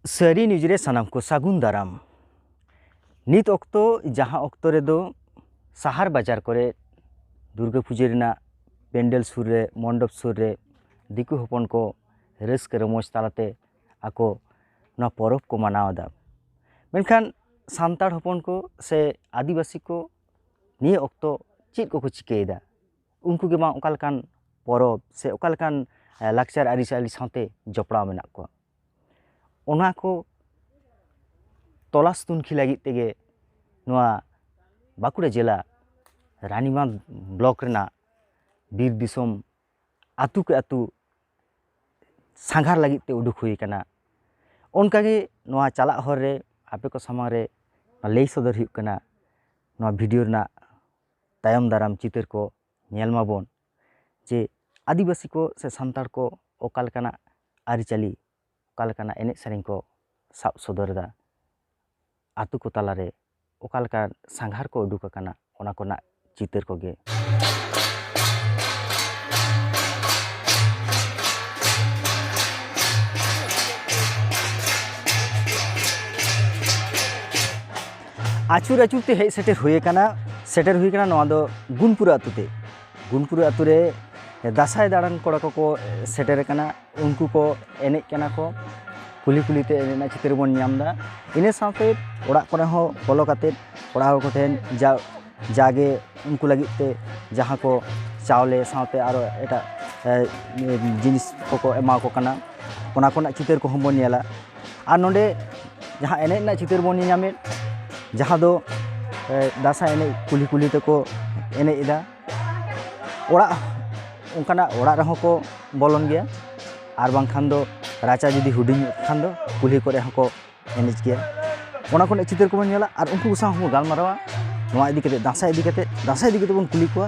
ᱥᱟᱹᱨᱤ ᱱᱤᱭᱩᱡᱽ ᱨᱮ ᱥᱟᱱᱟᱢ ᱠᱚ ᱥᱟᱹᱜᱩᱱ ᱫᱟᱨᱟᱢ ᱱᱤᱛ ᱚᱠᱛᱚ ᱡᱟᱦᱟᱸ ᱚᱠᱛᱚ ᱨᱮᱫᱚ ᱥᱟᱦᱟᱨ ᱵᱟᱡᱟᱨ ᱠᱚᱨᱮ ᱫᱩᱨᱜᱟᱹ ᱯᱩᱡᱟᱹ ᱨᱮᱱᱟᱜ ᱯᱮᱱᱰᱮᱞ ᱥᱩᱨ ᱨᱮ ᱢᱚᱱᱰᱚᱯ ᱥᱩᱨ ᱨᱮ ᱫᱤᱠᱩ ᱦᱚᱯᱚᱱ ᱠᱚ ᱨᱟᱹᱥᱠᱟᱹ ᱨᱚᱢᱚᱡᱽ ᱛᱟᱞᱟᱛᱮ ᱟᱠᱚ ᱱᱚᱣᱟ ᱯᱚᱨᱚᱵᱽ ᱠᱚ ᱢᱟᱱᱟᱣ ᱮᱫᱟ ᱢᱮᱱᱠᱷᱟᱱ ᱥᱟᱱᱛᱟᱲ ᱦᱚᱯᱚᱱ ᱠᱚ ᱥᱮ ᱟᱹᱫᱤᱵᱟᱹᱥᱤ ᱠᱚ ᱱᱤᱭᱟᱹ ᱚᱠᱛᱚ ᱪᱮᱫ ᱠᱚᱠᱚ ᱪᱤᱠᱟᱹᱭᱮᱫᱟ ᱩᱱᱠᱩ ᱜᱮ ᱵᱟᱝ ᱚᱠᱟ ᱞᱮᱠᱟᱱ ᱯᱚᱨᱚᱵᱽ ᱥᱮ ᱚᱠᱟ ᱞᱮᱠᱟᱱ ᱞᱟᱠᱪᱟᱨ ᱟᱹᱨᱤᱪᱟᱹᱞᱤ ᱥᱟᱶᱛᱮ ᱡᱚᱯᱲᱟᱣ ᱢᱮᱱᱟᱜ ᱠᱚᱣᱟ ᱚᱱᱟ ᱠᱚ ᱛᱚᱞᱟᱥ ᱛᱩᱱᱠᱷᱤ ᱞᱟᱹᱜᱤᱫ ᱛᱮᱜᱮ ᱱᱚᱣᱟ ᱵᱟᱸᱠᱩᱲᱟ ᱡᱮᱞᱟ ᱨᱟᱱᱤᱵᱟᱸᱫᱷ ᱵᱞᱚᱠ ᱨᱮᱱᱟᱜ ᱵᱤᱨ ᱫᱤᱥᱚᱢ ᱟᱛᱳ ᱠᱮ ᱟᱛᱳ ᱥᱟᱸᱜᱷᱟᱨ ᱞᱟᱹᱜᱤᱫ ᱛᱮ ᱩᱰᱩᱠ ᱦᱩᱭ ᱠᱟᱱᱟ ᱚᱱᱠᱟ ᱜᱮ ᱱᱚᱣᱟ ᱪᱟᱞᱟᱜ ᱦᱚᱨ ᱨᱮ ᱟᱯᱮ ᱠᱚ ᱥᱟᱢᱟᱝ ᱨᱮ ᱞᱟᱹᱭ ᱥᱚᱫᱚᱨ ᱦᱩᱭᱩᱜ ᱠᱟᱱᱟ ᱱᱚᱣᱟ ᱵᱷᱤᱰᱭᱳ ᱨᱮᱱᱟᱜ ᱛᱟᱭᱚᱢ ᱫᱟᱨᱟᱢ ᱪᱤᱛᱟᱹᱨ ᱠᱚ ᱧᱮᱞ ᱢᱟᱵᱚᱱ ᱡᱮ ᱟᱹᱫᱤᱵᱟᱹᱥᱤ ᱠᱚ ᱥᱮ ᱥᱟᱱᱛᱟᱲ ᱠᱚ ᱚᱠᱟ ᱞᱮᱠᱟᱱᱟᱜ ᱟᱹᱨᱤᱪᱟᱹᱞᱤ ᱚᱠᱟ ᱞᱮᱠᱟᱱᱟᱜ ᱮᱱᱮᱡ ᱥᱮᱨᱮᱧ ᱠᱚ ᱥᱟᱵ ᱥᱚᱫᱚᱨ ᱮᱫᱟ ᱟᱛᱳ ᱠᱚ ᱛᱟᱞᱟᱨᱮ ᱚᱠᱟ ᱞᱮᱠᱟ ᱥᱟᱸᱜᱷᱟᱨ ᱠᱚ ᱩᱰᱩᱠ ᱟᱠᱟᱱᱟ ᱚᱱᱟ ᱠᱚᱨᱮᱱᱟᱜ ᱪᱤᱛᱟᱹᱨ ᱠᱚᱜᱮ ᱟᱹᱪᱩᱨ ᱟᱹᱪᱩᱨ ᱛᱮ ᱦᱮᱡ ᱥᱮᱴᱮᱨ ᱦᱩᱭ ᱟᱠᱟᱱᱟ ᱥᱮᱴᱮᱨ ᱦᱩᱭ ᱟᱠᱟᱱᱟ ᱱᱚᱣᱟ ᱫᱚ ᱜᱩᱱᱯᱩᱨ ᱟᱛᱳ ᱛᱮ ᱜᱩᱱᱯᱩᱨ ᱟᱛᱳ ᱨᱮ ᱫᱟᱸᱥᱟᱭ ᱫᱟᱬᱟᱱ ᱠᱚᱲᱟ ᱠᱚᱠᱚ ᱥᱮᱴᱮᱨ ᱟᱠᱟᱱᱟ ᱩᱱᱠᱩ ᱠᱚ ᱮᱱᱮᱡ ᱠᱟᱱᱟ ᱠᱚ ᱠᱩᱞᱦᱤ ᱠᱩᱞᱦᱤ ᱛᱮ ᱮᱱᱮᱡ ᱨᱮᱱᱟᱜ ᱪᱤᱛᱟᱹᱨ ᱵᱚᱱ ᱧᱟᱢ ᱮᱫᱟ ᱤᱱᱟᱹ ᱥᱟᱶᱛᱮ ᱚᱲᱟᱜ ᱠᱚᱨᱮ ᱦᱚᱸ ᱵᱚᱞᱚ ᱠᱟᱛᱮᱫ ᱚᱲᱟᱜ ᱦᱚᱲ ᱠᱚᱴᱷᱮᱱ ᱡᱟ ᱡᱟᱜᱮ ᱩᱱᱠᱩ ᱞᱟᱹᱜᱤᱫ ᱛᱮ ᱡᱟᱦᱟᱸ ᱠᱚ ᱪᱟᱣᱞᱮ ᱥᱟᱶᱛᱮ ᱟᱨᱚ ᱮᱴᱟᱜ ᱡᱤᱱᱤᱥ ᱠᱚᱠᱚ ᱮᱢᱟ ᱠᱚ ᱠᱟᱱᱟ ᱚᱱᱟ ᱠᱚᱨᱮᱱᱟᱜ ᱪᱤᱛᱟᱹᱨ ᱠᱚᱦᱚᱸ ᱵᱚᱱ ᱧᱮᱞᱟ ᱟᱨ ᱱᱚᱰᱮ ᱡᱟᱦᱟᱸ ᱮᱱᱮᱡ ᱨᱮᱱᱟᱜ ᱪᱤᱛᱟᱹᱨ ᱵᱚᱱ ᱧᱮᱞ ᱧᱟᱢᱮᱫ ᱡᱟᱦᱟᱸ ᱫᱚ ᱫᱟᱸᱥᱟᱭ ᱮᱱᱮᱡ ᱠᱩᱞᱦᱤ ᱠᱩᱞᱦᱤ ᱛᱮᱠᱚ ᱮᱱᱮᱡ ᱮᱫᱟ ᱚᱲᱟᱜ ᱚᱱᱠᱟᱱᱟᱜ ᱚᱲᱟᱜ ᱨᱮᱦᱚᱸ ᱠᱚ ᱵᱚᱞᱚᱱ ᱜᱮᱭᱟ ᱟᱨ ᱵᱟᱝᱠᱷᱟᱱ ᱫᱚ ᱨᱟᱪᱟ ᱡᱩᱫᱤ ᱦᱩᱰᱤᱧ ᱧᱚᱜ ᱠᱷᱟᱱ ᱫᱚ ᱠᱩᱞᱦᱤ ᱠᱚᱨᱮ ᱦᱚᱸᱠᱚ ᱮᱱᱮᱡ ᱜᱮᱭᱟ ᱚᱱᱟ ᱠᱚᱨᱮᱜ ᱪᱤᱛᱟᱹᱨ ᱠᱚᱵᱚᱱ ᱧᱮᱞᱟ ᱟᱨ ᱩᱱᱠᱩ ᱥᱟᱶ ᱦᱚᱸᱵᱚᱱ ᱜᱟᱞᱢᱟᱨᱟᱣᱟ ᱱᱚᱣᱟ ᱤᱫᱤ ᱠᱟᱛᱮᱜ ᱫᱟᱸᱥᱟᱭ ᱤᱫᱤ ᱠᱟᱛᱮᱜ ᱫᱟᱸᱥᱟᱭ ᱤᱫᱤ ᱠᱟᱛᱮᱜ ᱵᱚᱱ ᱠᱩᱞᱤ ᱠᱚᱣᱟ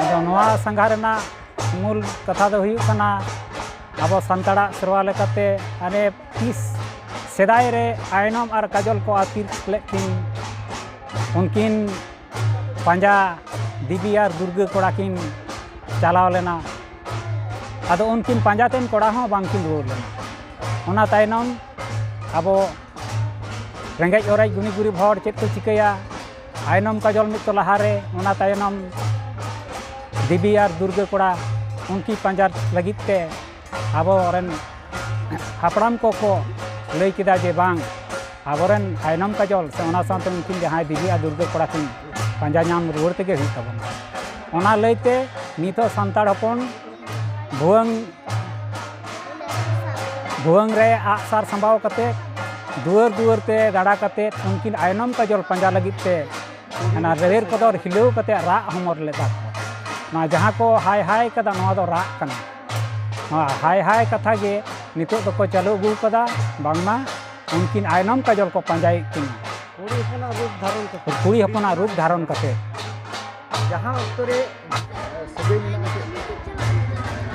ᱟᱫᱚ ᱱᱚᱣᱟ ᱥᱟᱸᱜᱷᱟ ᱨᱮᱱᱟᱜ ᱢᱩᱞ ᱠᱟᱛᱷᱟ ᱫᱚ ᱦᱩᱭᱩᱜ ᱠᱟᱱᱟ ᱟᱵᱚ ᱥᱟᱱᱛᱟᱲᱟᱜ ᱥᱮᱨᱣᱟ ᱞᱮᱠᱟᱛᱮ ᱟᱞᱮ ᱛᱤᱥ ᱥᱮᱫᱟᱭ ᱨᱮ ᱟᱭᱱᱚᱢ ᱟᱨ ᱠᱟᱡᱚᱞ ᱠᱚ ᱟᱹᱛᱠᱤᱨ ᱞᱮᱫ ᱠᱤᱱ ᱩᱱᱠᱤᱱ ᱯᱟᱸᱡᱟ ᱫᱮᱵᱤ ᱟᱨ ᱫᱩᱨᱜᱟᱹ ᱠᱚᱲᱟ ᱠᱤᱱ ᱪᱟᱞᱟᱣ ᱞᱮᱱᱟ ᱟᱫᱚ ᱩᱱᱠᱤᱱ ᱯᱟᱸᱡᱟ ᱛᱮᱱ ᱠᱚᱲᱟ ᱦᱚᱸ ᱵᱟᱝᱠᱤᱱ ᱨᱩᱣᱟᱹᱲ ᱞᱮᱱᱟ ᱚᱱᱟ ᱛᱟᱭᱱᱚᱢ ᱟᱵᱚ ᱨᱮᱸᱜᱮᱡ ᱚᱨᱮᱡ ᱜᱩᱱᱤ ᱜᱩᱨᱤᱵ ᱦᱚᱲ ᱪᱮᱫ ᱠᱚ ᱪᱤᱠᱟᱹᱭᱟ ᱟᱭᱱᱚᱢ ᱠᱟᱡᱚᱞ ᱢᱤᱫ ᱛᱚ ᱞᱟᱦᱟᱨᱮ ᱚᱱᱟ ᱛᱟᱭᱱᱚᱢ ᱫᱮᱵᱤ ᱟᱨ ᱫᱩᱨᱜᱟᱹ ᱠᱚᱲᱟ ᱩᱱᱠᱤ ᱯᱟᱸᱡᱟ ᱞᱟᱹᱜᱤᱫ ᱛᱮ ᱟᱵᱚᱨᱮᱱ ᱦᱟᱯᱲᱟᱢ ᱠᱚᱠᱚ ᱞᱟᱹᱭ ᱠᱮᱫᱟ ᱡᱮ ᱵᱟᱝ ᱟᱵᱚᱨᱮᱱ ᱟᱭᱱᱚᱢ ᱠᱟᱡᱚᱞ ᱥᱮ ᱚᱱᱟ ᱥᱟᱶᱛᱮ ᱩᱱᱠᱤᱱ ᱡᱟᱦᱟᱸᱭ ᱫᱮᱵᱤ ᱟᱨ ᱫᱩᱨᱜᱟᱹ ᱠᱚᱲᱟ ᱠᱤᱱ ᱯᱟᱸᱡᱟ ᱧᱟᱢ ᱨᱩᱣᱟᱹᱲ ᱛᱮᱜᱮ ᱦᱩᱭᱩᱜ ᱛᱟᱵᱚᱱᱟ ᱚᱱᱟ ᱞᱟᱹᱭᱛᱮ ᱱᱤᱛᱚᱜ ᱥᱟᱱᱛᱟᱲ ᱦᱚᱯᱚᱱ ᱵᱷᱩᱣᱟᱹᱝ ᱵᱷᱩᱣᱟᱹᱝ ᱨᱮ ᱟᱜᱼᱥᱟᱨ ᱥᱟᱢᱵᱟᱣ ᱠᱟᱛᱮᱫ ᱫᱩᱣᱟᱹᱨ ᱫᱩᱣᱟᱹᱨ ᱛᱮ ᱫᱟᱬᱟ ᱠᱟᱛᱮᱫ ᱩᱱᱠᱤᱱ ᱟᱭᱱᱚᱢ ᱠᱟᱡᱚᱞ ᱯᱟᱸᱡᱟ ᱞᱟᱹᱜᱤᱫ ᱛᱮ ᱚᱱᱟ ᱨᱮᱦᱮᱨ ᱠᱚᱫᱚᱨ ᱦᱤᱞᱟᱹᱣ ᱠᱟᱛᱮᱫ ᱨᱟᱜ ᱦᱚᱢᱚᱨ ᱞᱮᱫᱟ ᱠᱚ ᱱᱚᱣᱟ ᱡᱟᱦᱟᱸ ᱠᱚ ᱦᱟᱭ ᱦᱟᱭ ᱠᱟᱫᱟ ᱱᱚᱣᱟ ᱫᱚ ᱨᱟᱜ ᱠᱟᱱᱟ ᱱᱚᱣᱟ ᱦᱟᱭ ᱦᱟᱭ ᱠᱟᱛᱷᱟ ᱜᱮ ᱱᱤᱛᱚᱜ ᱫᱚᱠᱚ ᱪᱟᱹᱞᱩ ᱟᱹᱜᱩ ᱠᱟᱫᱟ ᱵᱟᱝᱢᱟ ᱩᱱᱠᱤᱱ ᱟᱭᱱᱚᱢ ᱠᱟᱡᱚᱞ ᱠᱚ ᱯᱟᱸᱡᱟᱭᱮᱫ ᱠᱤᱱᱟ ᱠᱩᱲᱤ ᱦᱚᱯᱚᱱᱟᱜ ᱨᱩᱯ ᱫᱷᱟᱨᱚᱱ ᱠᱟᱛᱮᱫ ᱡᱟᱦᱟᱸ ᱚᱠᱛᱚ ᱨᱮ ᱥᱟᱹᱜᱟᱹᱭ ᱢᱮᱱᱟᱜᱼᱟ ᱪᱮᱫ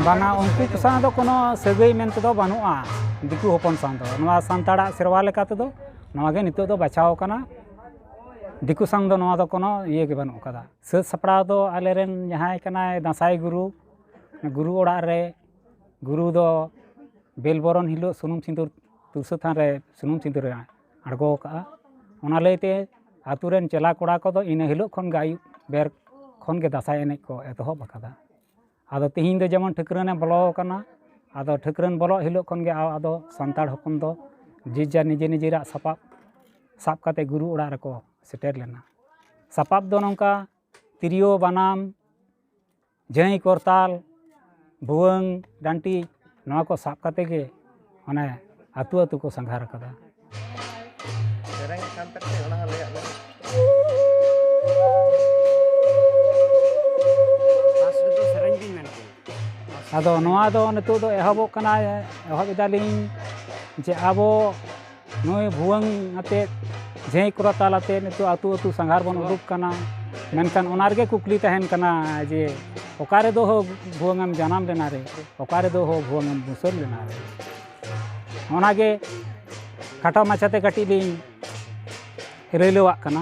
ᱵᱟᱝᱟ ᱩᱱᱠᱩ ᱠᱚ ᱥᱟᱶ ᱫᱚ ᱠᱳᱱᱳ ᱥᱟᱹᱜᱟᱹᱭ ᱢᱮᱱ ᱛᱮᱫᱚ ᱵᱟᱹᱱᱩᱜᱼᱟ ᱫᱤᱠᱩ ᱦᱚᱯᱚᱱ ᱥᱟᱶ ᱫᱚ ᱱᱚᱣᱟ ᱥᱟᱱᱛᱟᱲᱟᱜ ᱥᱮᱨᱣᱟ ᱞᱮᱠᱟ ᱛᱮᱫᱚ ᱱᱚᱣᱟ ᱜᱮ ᱱᱤᱛᱚᱜ ᱫᱚ ᱵᱟᱪᱷᱟᱣ ᱟᱠᱟᱱᱟ ᱫᱤᱠᱩ ᱥᱟᱶ ᱫᱚ ᱱᱚᱣᱟ ᱫᱚ ᱠᱳᱱᱳ ᱤᱭᱟᱹ ᱜᱮ ᱵᱟᱹᱱᱩᱜ ᱟᱠᱟᱫᱟ ᱥᱟᱹᱛ ᱥᱟᱯᱲᱟᱣ ᱫᱚ ᱟᱞᱮᱨᱮᱱ ᱡᱟᱦᱟᱸᱭ ᱠᱟᱱᱟᱭ ᱫᱟᱸᱥᱟᱭ ᱜᱩᱨᱩ ᱜᱩᱨᱩ ᱚᱲᱟᱜ ᱨᱮ ᱜᱩᱨᱩ ᱫᱚ ᱵᱮᱞ ᱵᱚᱨᱚᱱ ᱦᱤᱞᱳᱜ ᱥᱩᱱᱩᱢ ᱥᱤᱸᱫᱩᱨ ᱛᱩᱨᱥᱟᱹ ᱛᱷᱟᱱ ᱨᱮ ᱥᱩᱱᱩᱢ ᱥᱤᱸᱫᱩᱨ ᱟᱭᱟ ᱟᱬᱜᱚ ᱟᱠᱟᱫᱼᱟ ᱚᱱᱟ ᱞᱟᱹᱭᱛᱮ ᱟᱹᱛᱩ ᱨᱮᱱ ᱪᱮᱞᱟ ᱠᱚᱲᱟ ᱠᱚᱫᱚ ᱤᱱᱟᱹ ᱦᱤᱞᱳᱜ ᱠᱷᱚᱱ ᱜᱮ ᱟᱹᱭᱩᱵ ᱵᱮᱨ ᱠᱷᱚᱱ ᱜᱮ ᱫᱟᱸᱥᱟᱭ ᱮᱱᱮᱡ ᱠᱚ ᱮᱛᱚᱦᱚᱵ ᱟᱠᱟᱫᱟ ᱟᱫᱚ ᱛᱮᱦᱮᱧ ᱫᱚ ᱡᱮᱢᱚᱱ ᱴᱷᱟᱹᱠᱨᱟᱹᱱᱮ ᱵᱚᱞᱚ ᱟᱠᱟᱱᱟ ᱟᱫᱚ ᱴᱷᱟᱹᱠᱨᱟᱹᱱ ᱵᱚᱞᱚᱜ ᱦᱤᱞᱳᱜ ᱠᱷᱚᱱ ᱜᱮ ᱟᱫᱚ ᱥᱟᱱᱛᱟᱲ ᱦᱚᱯᱚᱱ ᱫᱚ ᱡᱮ ᱡᱟᱨ ᱱᱤᱡᱮ ᱱᱤᱡᱮᱨᱟᱜ ᱥᱟᱯᱟᱯ ᱥᱟᱵ ᱠᱟᱛᱮᱫ ᱜᱩᱨᱩ ᱚᱲᱟᱜ ᱨᱮᱠᱚ ᱥᱮᱴᱮᱨ ᱞᱮᱱᱟ ᱥᱟᱯᱟᱯ ᱫᱚ ᱱᱚᱝᱠᱟ ᱛᱤᱨᱭᱳ ᱵᱟᱱᱟᱢ ᱡᱟᱹᱭ ᱠᱚᱨᱛᱟᱞ ᱵᱷᱩᱣᱟᱹᱝ ᱰᱟᱹᱱᱴᱤ ᱱᱚᱣᱟ ᱠᱚ ᱥᱟᱵ ᱠᱟᱛᱮ ᱜᱮ ᱚᱱᱮ ᱟᱹᱛᱩ ᱟᱹᱛᱩ ᱠᱚ ᱥᱟᱸᱜᱷᱟᱨ ᱟᱠᱟᱫᱟ ᱟᱫᱚ ᱱᱚᱣᱟ ᱫᱚ ᱱᱤᱛᱚᱜ ᱫᱚ ᱮᱦᱚᱵᱚᱜ ᱠᱟᱱᱟ ᱮᱦᱚᱵ ᱮᱫᱟᱞᱤᱧ ᱡᱮ ᱟᱵᱚ ᱱᱚᱜᱼᱚᱭ ᱵᱷᱩᱣᱟᱹᱝ ᱟᱛᱮᱫ ᱡᱷᱮᱸᱭ ᱠᱚᱨᱟ ᱛᱟᱞ ᱟᱛᱮᱫ ᱱᱤᱛᱚᱜ ᱟᱛᱳ ᱟᱛᱳ ᱥᱟᱸᱜᱷᱟᱨ ᱵᱚᱱ ᱩᱰᱩᱠ ᱠᱟᱱᱟ ᱢᱮᱱᱠᱷᱟᱱ ᱚᱱᱟ ᱨᱮᱜᱮ ᱠᱩᱠᱞᱤ ᱛᱟᱦᱮᱱ ᱠᱟᱱᱟ ᱡᱮ ᱚᱠᱟ ᱨᱮᱫᱚ ᱦᱳ ᱵᱷᱩᱣᱟᱹᱝ ᱮᱢ ᱡᱟᱱᱟᱢ ᱞᱮᱱᱟ ᱨᱮ ᱚᱠᱟ ᱨᱮᱫᱚ ᱦᱳ ᱵᱷᱩᱣᱟᱹᱝ ᱮᱢ ᱵᱩᱥᱟᱹᱫ ᱞᱮᱱᱟ ᱨᱮ ᱚᱱᱟᱜᱮ ᱠᱷᱟᱴᱚ ᱢᱟᱪᱷᱟᱛᱮ ᱠᱟᱹᱴᱤᱡ ᱞᱤᱧ ᱨᱟᱹᱭᱞᱟᱹᱣᱟᱜ ᱠᱟᱱᱟ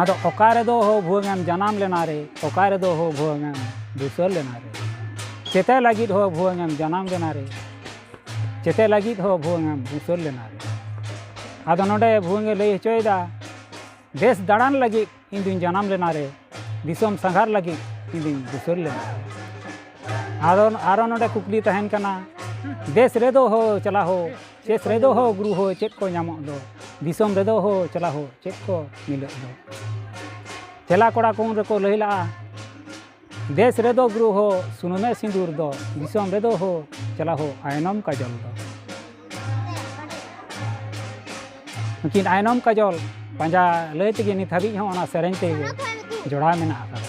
ᱟᱫᱚ ᱚᱠᱟ ᱨᱮᱫᱚ ᱦᱳ ᱵᱷᱩᱣᱟᱹᱝᱮᱢ ᱡᱟᱱᱟᱢ ᱞᱮᱱᱟ ᱨᱮ ᱚᱠᱟ ᱨᱮᱫᱚ ᱦᱳ ᱵᱷᱩᱣᱟᱹᱝᱮᱢ ᱫᱩᱥᱟᱹᱨ ᱞᱮᱱᱟ ᱨᱮ ᱪᱮᱛᱮ ᱞᱟᱹᱜᱤᱫ ᱦᱳ ᱵᱷᱩᱣᱟᱹᱝᱮᱢ ᱡᱟᱱᱟᱢ ᱞᱮᱱᱟ ᱨᱮ ᱪᱮᱛᱮᱫ ᱞᱟᱹᱜᱤᱫ ᱦᱚᱸ ᱵᱷᱩᱣᱟᱹᱝ ᱩᱪᱟᱹᱲ ᱞᱮᱱᱟ ᱟᱫᱚ ᱱᱚᱰᱮ ᱵᱷᱩᱣᱟᱹᱝ ᱮ ᱞᱟᱹᱭ ᱦᱚᱪᱚᱭᱮᱫᱟ ᱫᱮᱥ ᱫᱟᱬᱟᱱ ᱞᱟᱹᱜᱤᱫ ᱤᱧ ᱫᱩᱧ ᱡᱟᱱᱟᱢ ᱞᱮᱱᱟ ᱨᱮ ᱫᱤᱥᱚᱢ ᱥᱟᱸᱜᱷᱟᱨ ᱞᱟᱹᱜᱤᱫ ᱤᱧ ᱫᱩᱧ ᱩᱪᱟᱹᱲ ᱞᱮᱱᱟ ᱟᱫᱚ ᱟᱨᱚ ᱱᱚᱰᱮ ᱠᱩᱠᱞᱤ ᱛᱟᱦᱮᱱ ᱠᱟᱱᱟ ᱫᱮᱥ ᱨᱮᱫᱚ ᱦᱳ ᱪᱟᱞᱟ ᱦᱳ ᱪᱮᱥ ᱨᱮᱫᱚ ᱦᱳ ᱜᱩᱨᱩ ᱦᱳ ᱪᱮᱫ ᱠᱚ ᱧᱟᱢᱚᱜ ᱫᱚ ᱫᱤᱥᱚᱢ ᱨᱮᱫᱚ ᱦᱳ ᱪᱟᱞᱟ ᱦᱳ ᱪᱮᱫ ᱠᱚ ᱢᱤᱞᱟᱹᱜ ᱫᱚ ᱪᱮᱞᱟ ᱠᱚᱲᱟ ᱠᱚ ᱩᱱ ᱨᱮᱠᱚ ᱞᱟᱹᱭ ᱞᱟᱜᱼᱟ ᱫᱮᱥ ᱨᱮᱫᱚ ᱜᱩᱨᱩ ᱦᱳ ᱥᱩᱱᱩᱢᱮ ᱥᱤᱸᱫᱩᱨ ᱫᱚ ᱫᱤᱥᱚᱢ ᱨᱮᱫᱚ ᱦᱳ ᱪᱟᱞᱟ ᱦᱳ ᱟᱭᱱᱚᱢ ᱠᱟᱡᱚᱞ ᱫᱚ ᱱᱩᱠᱤᱱ ᱟᱭᱱᱚᱢ ᱠᱟᱡᱚᱞ ᱯᱟᱸᱡᱟ ᱞᱟᱹᱭ ᱛᱮᱜᱮ ᱱᱤᱛ ᱦᱟᱹᱵᱤᱡ ᱦᱚᱸ ᱚᱱᱟ ᱥᱮᱨᱮᱧ ᱛᱮᱜᱮ ᱡᱚᱲᱟᱣ ᱢᱮᱱᱟᱜ ᱟᱠᱟᱫᱟ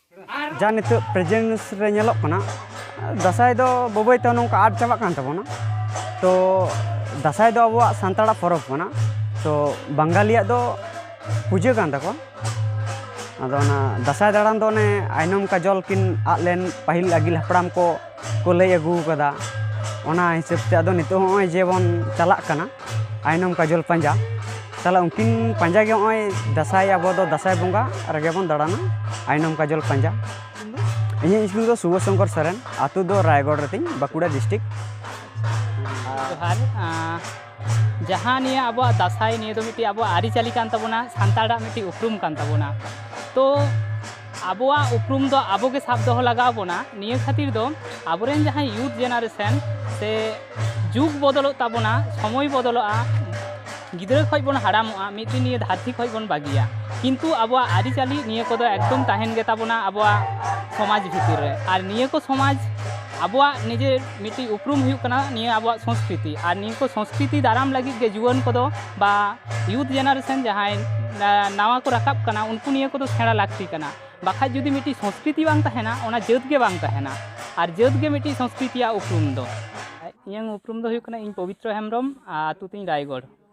ᱡᱟᱦᱟᱸ ᱱᱤᱛᱚᱜ ᱯᱨᱮᱡᱮᱱᱥ ᱨᱮ ᱧᱮᱞᱚᱜ ᱠᱟᱱᱟ ᱫᱟᱸᱥᱟᱭ ᱫᱚ ᱵᱟᱹᱵᱟᱹᱭ ᱛᱮ ᱱᱚᱝᱠᱟ ᱟᱫ ᱪᱟᱵᱟᱜ ᱠᱟᱱ ᱛᱟᱵᱚᱱᱟ ᱛᱚ ᱫᱟᱸᱥᱟᱭ ᱫᱚ ᱟᱵᱚᱣᱟᱜ ᱥᱟᱱᱛᱟᱲᱟᱜ ᱯᱚᱨᱚᱵᱽ ᱠᱟᱱᱟ ᱛᱚ ᱵᱟᱝᱜᱟᱞᱤᱭᱟᱜ ᱫᱚ ᱯᱩᱡᱟᱹ ᱠᱟᱱ ᱛᱟᱠᱚᱣᱟ ᱟᱫᱚ ᱚᱱᱟ ᱫᱟᱸᱥᱟᱭ ᱫᱟᱬᱟᱱ ᱫᱚ ᱚᱱᱮ ᱟᱭᱱᱚᱢ ᱠᱟᱡᱚᱞ ᱠᱤᱱ ᱟᱫ ᱞᱮᱱ ᱯᱟᱹᱦᱤᱞ ᱟᱹᱜᱤᱞ ᱦᱟᱯᱲᱟᱢ ᱠᱚ ᱠᱚ ᱞᱟᱹᱭ ᱟᱹᱜᱩ ᱟᱠᱟᱫᱟ ᱚᱱᱟ ᱦᱤᱥᱟᱹᱵ ᱛᱮ ᱟᱫᱚ ᱱᱤᱛᱚᱜ ᱦᱚᱸ ᱱᱚᱜᱼᱚᱭ ᱡᱮᱵᱚᱱ ᱪᱟᱞᱟᱜ ᱠᱟᱱᱟ ᱟᱭᱱᱚᱢ ᱠᱟᱡᱚᱞ ᱯᱟᱸᱡᱟ ᱛᱟᱦᱚᱞᱮ ᱩᱱᱠᱤᱱ ᱯᱟᱸᱡᱟ ᱜᱮ ᱱᱚᱜᱼᱚᱭ ᱫᱟᱸᱥᱟᱭ ᱟᱵᱚ ᱫᱚ ᱫᱟᱸᱥᱟᱭ ᱵᱚᱸᱜᱟ ᱨᱮᱜᱮ ᱵᱚᱱ ᱫᱟᱬᱟᱱᱟ ᱟᱭᱱᱚᱢ ᱠᱟᱡᱚᱞ ᱯᱟᱸᱡᱟ ᱤᱧᱟᱹᱜ ᱧᱩᱛᱩᱢ ᱫᱚ ᱥᱩᱵᱷᱚ ᱥᱚᱝᱠᱚᱨ ᱥᱚᱨᱮᱱ ᱟᱛᱳ ᱫᱚ ᱨᱟᱭᱜᱚᱲ ᱨᱮᱛᱤᱧ ᱵᱟᱸᱠᱩᱲᱟ ᱰᱤᱥᱴᱤᱠ ᱡᱚᱦᱟᱨ ᱡᱟᱦᱟᱸ ᱱᱤᱭᱟᱹ ᱟᱵᱚᱣᱟᱜ ᱫᱟᱸᱥᱟᱭ ᱱᱤᱭᱟᱹ ᱫᱚ ᱢᱤᱫᱴᱤᱡ ᱟᱵᱚᱣᱟᱜ ᱟᱹᱨᱤᱪᱟᱹᱞᱤ ᱠᱟᱱ ᱛᱟᱵᱚᱱᱟ ᱥᱟᱱᱛᱟᱲᱟᱜ ᱢᱤᱫᱴᱤᱡ ᱩᱯᱨᱩᱢ ᱠᱟᱱ ᱛᱟᱵᱚᱱᱟ ᱛᱚ ᱟᱵᱚᱣᱟᱜ ᱩᱯᱨᱩᱢ ᱫᱚ ᱟᱵᱚ ᱜᱮ ᱥᱟᱵ ᱫᱚᱦᱚ ᱞᱟᱜᱟᱣ ᱵᱚᱱᱟ ᱱᱤᱭᱟᱹ ᱠᱷᱟᱹᱛᱤᱨ ᱫᱚ ᱟᱵᱚᱨᱮᱱ ᱡᱟᱦᱟᱸᱭ ᱭᱩᱛᱷ ᱡᱮᱱᱟᱨᱮᱥᱚᱱ ᱥᱮ ᱡᱩᱜᱽ ᱵᱚᱫᱚᱞᱚᱜ ᱛᱟᱵᱚᱱᱟ ᱥᱚᱢᱚᱭ ᱵᱚᱫᱚᱞᱚᱜᱼᱟ ᱜᱤᱫᱽᱨᱟᱹ ᱠᱷᱚᱡ ᱵᱚᱱ ᱦᱟᱲᱟᱢᱚᱜᱼᱟ ᱢᱤᱫ ᱫᱤᱱ ᱱᱤᱭᱟᱹ ᱫᱷᱟᱹᱨᱛᱤ ᱠᱷᱚᱡ ᱵᱚᱱ ᱵᱟᱹᱜᱤᱭᱟ ᱠᱤᱱᱛᱩ ᱟᱵᱚᱣᱟᱜ ᱟᱹᱨᱤᱪᱟᱹᱞᱤ ᱱᱤᱭᱟᱹ ᱠᱚᱫᱚ ᱮᱠᱫᱚᱢ ᱛᱟᱦᱮᱱ ᱜᱮᱛᱟᱵᱚᱱᱟ ᱟᱵᱚᱣᱟᱜ ᱥᱚᱢᱟᱡᱽ ᱵᱷᱤᱛᱤᱨ ᱨᱮ ᱟᱨ ᱱᱤᱭᱟᱹ ᱠᱚ ᱥᱚᱢᱟᱡᱽ ᱟᱵᱚᱣᱟᱜ ᱱᱤᱡᱮᱨ ᱢᱤᱫᱴᱤᱡ ᱩᱯᱨᱩᱢ ᱦᱩᱭᱩᱜ ᱠᱟᱱᱟ ᱱᱤᱭᱟᱹ ᱟᱵᱚᱣᱟᱜ ᱥᱚᱝᱥᱠᱨᱤᱛᱤ ᱟᱨ ᱱᱤᱭᱟᱹ ᱠᱚ ᱥᱚᱝᱥᱠᱨᱤᱛᱤ ᱫᱟᱨᱟᱢ ᱞᱟᱹᱜᱤᱫ ᱜᱮ ᱡᱩᱣᱟᱹᱱ ᱠᱚᱫᱚ ᱵᱟ ᱭᱩᱛᱷ ᱡᱮᱱᱟᱨᱮᱥᱚᱱ ᱡᱟᱦᱟᱸᱭ ᱱᱟᱣᱟ ᱠᱚ ᱨᱟᱠᱟᱵ ᱠᱟᱱᱟ ᱩᱱᱠᱩ ᱱᱤᱭᱟᱹ ᱠᱚᱫᱚ ᱥᱮᱬᱟ ᱞᱟᱹᱠᱛᱤ ᱠᱟᱱᱟ ᱵᱟᱠᱷᱟᱡ ᱡᱩᱫᱤ ᱢᱤᱫᱴᱤᱡ ᱥᱚᱝᱥᱠᱨᱤᱛᱤ ᱵᱟᱝ ᱛᱟᱦᱮᱱᱟ ᱚᱱᱟ ᱡᱟᱹᱛ ᱜᱮ ᱵᱟᱝ ᱛᱟᱦᱮᱱᱟ ᱟᱨ ᱡᱟᱹᱛ ᱜᱮ ᱢᱤᱫᱴᱤᱡ ᱥᱚᱝᱥᱠᱨᱤᱛᱤᱭᱟᱜ ᱩᱯᱨᱩᱢ ᱫᱚ ᱤᱧᱟᱹᱝ ᱩᱯᱨᱩᱢ ᱫᱚ ᱦᱩᱭᱩᱜ ᱠᱟᱱᱟ ᱤᱧ ᱯᱚᱵᱤᱛᱨᱚ ᱦᱮᱢᱵᱨᱚᱢ ᱟᱛᱳ ᱛᱤᱧ ᱨᱟᱭᱜᱚᱲ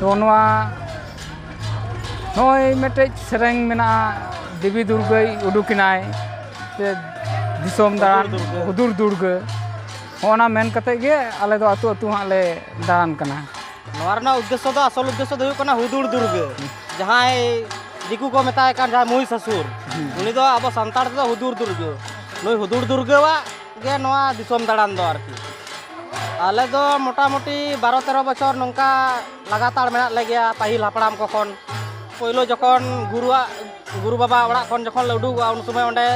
ᱛᱚ ᱱᱚᱣᱟ ᱱᱚᱜᱼᱚᱭ ᱢᱤᱫᱴᱮᱡ ᱥᱮᱨᱮᱧ ᱢᱮᱱᱟᱜᱼᱟ ᱫᱮᱵᱤ ᱫᱩᱨᱜᱟᱹᱭ ᱩᱰᱩᱠᱮᱱᱟᱭ ᱥᱮ ᱫᱤᱥᱚᱢ ᱫᱟᱬᱟᱱ ᱦᱩᱫᱩᱲ ᱫᱩᱨᱜᱟᱹ ᱦᱚᱸᱜᱼᱱᱟ ᱢᱮᱱ ᱠᱟᱛᱮᱫ ᱜᱮ ᱟᱞᱮ ᱫᱚ ᱟᱹᱛᱩ ᱟᱹᱛᱩ ᱦᱟᱸᱜ ᱞᱮ ᱫᱟᱬᱟᱱ ᱠᱟᱱᱟ ᱱᱚᱣᱟ ᱨᱮᱱᱟᱜ ᱩᱫᱽᱫᱮᱥᱥᱚ ᱫᱚ ᱟᱥᱚᱞ ᱩᱫᱽᱫᱮᱥᱥᱚ ᱫᱚ ᱦᱩᱭᱩᱜ ᱠᱟᱱᱟ ᱦᱩᱫᱩᱲ ᱫᱩᱨᱜᱟᱹ ᱡᱟᱦᱟᱸᱭ ᱫᱤᱠᱩ ᱠᱚ ᱢᱮᱛᱟᱭ ᱠᱟᱱ ᱡᱟᱦᱟᱸᱭ ᱢᱚᱦᱤᱥᱟᱥᱩᱨ ᱩᱱᱤ ᱫᱚ ᱟᱵᱚ ᱥᱟᱱᱛᱟᱲ ᱛᱮᱫᱚ ᱦᱩᱫᱩᱲ ᱫᱩᱨᱜᱟᱹ ᱱᱩᱭ ᱦᱩᱫᱩᱲ ᱫᱩᱨᱜᱟᱹᱣᱟᱜ ᱜᱮ ᱱᱚᱣᱟ ᱫᱤᱥᱚᱢ ᱫᱟᱬᱟᱱ ᱫᱚ ᱟᱨᱠᱤ ᱟᱞᱮ ᱫᱚ ᱢᱚᱴᱟᱢᱩᱴᱤ ᱵᱟᱨᱚ ᱛᱮᱨᱚ ᱵᱚᱪᱷᱚᱨ ᱱᱚᱝᱠᱟ ᱞᱟᱜᱟᱛᱟᱲ ᱢᱮᱱᱟᱜ ᱞᱮᱜᱮᱭᱟ ᱯᱟᱹᱦᱤᱞ ᱦᱟᱯᱲᱟᱢ ᱠᱚ ᱠᱷᱚᱱ ᱯᱳᱭᱞᱳ ᱡᱚᱠᱷᱚᱱ ᱜᱩᱨᱩᱣᱟᱜ ᱜᱩᱨᱩ ᱵᱟᱵᱟ ᱚᱲᱟᱜ ᱠᱷᱚᱱ ᱡᱚᱠᱷᱚᱱ ᱞᱮ ᱩᱰᱩᱠᱚᱜᱼᱟ ᱩᱱ ᱥᱚᱢᱚᱭ ᱚᱸᱰᱮ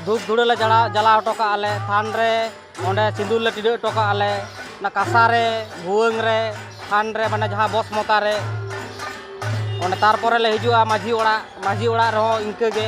ᱫᱷᱩᱯ ᱫᱷᱩᱲᱟᱹ ᱞᱮ ᱡᱟᱲᱟ ᱡᱟᱞᱟ ᱦᱚᱴᱚ ᱠᱟᱜᱼᱟ ᱞᱮ ᱛᱷᱟᱱ ᱨᱮ ᱚᱸᱰᱮ ᱥᱤᱸᱫᱩᱨ ᱞᱮ ᱴᱤᱰᱟᱹᱜ ᱦᱚᱴᱚ ᱠᱟᱜᱼᱟ ᱞᱮ ᱚᱱᱟ ᱠᱟᱸᱥᱟ ᱨᱮ ᱵᱷᱩᱣᱟᱹᱝ ᱨᱮ ᱛᱷᱟᱱ ᱨᱮ ᱢᱟᱱᱮ ᱡᱟᱦᱟᱸ ᱵᱚᱥ ᱢᱚᱛᱟ ᱨᱮ ᱚᱸᱰᱮ ᱛᱟᱨᱯᱚᱨᱮ ᱞᱮ ᱦᱤᱡᱩᱜᱼᱟ ᱢᱟᱺᱡᱷᱤ ᱚᱲᱟᱜ ᱢᱟᱺᱡᱷᱤ ᱚᱲᱟᱜ ᱨᱮᱦᱚᱸ ᱤᱱᱠᱟᱹ ᱜᱮ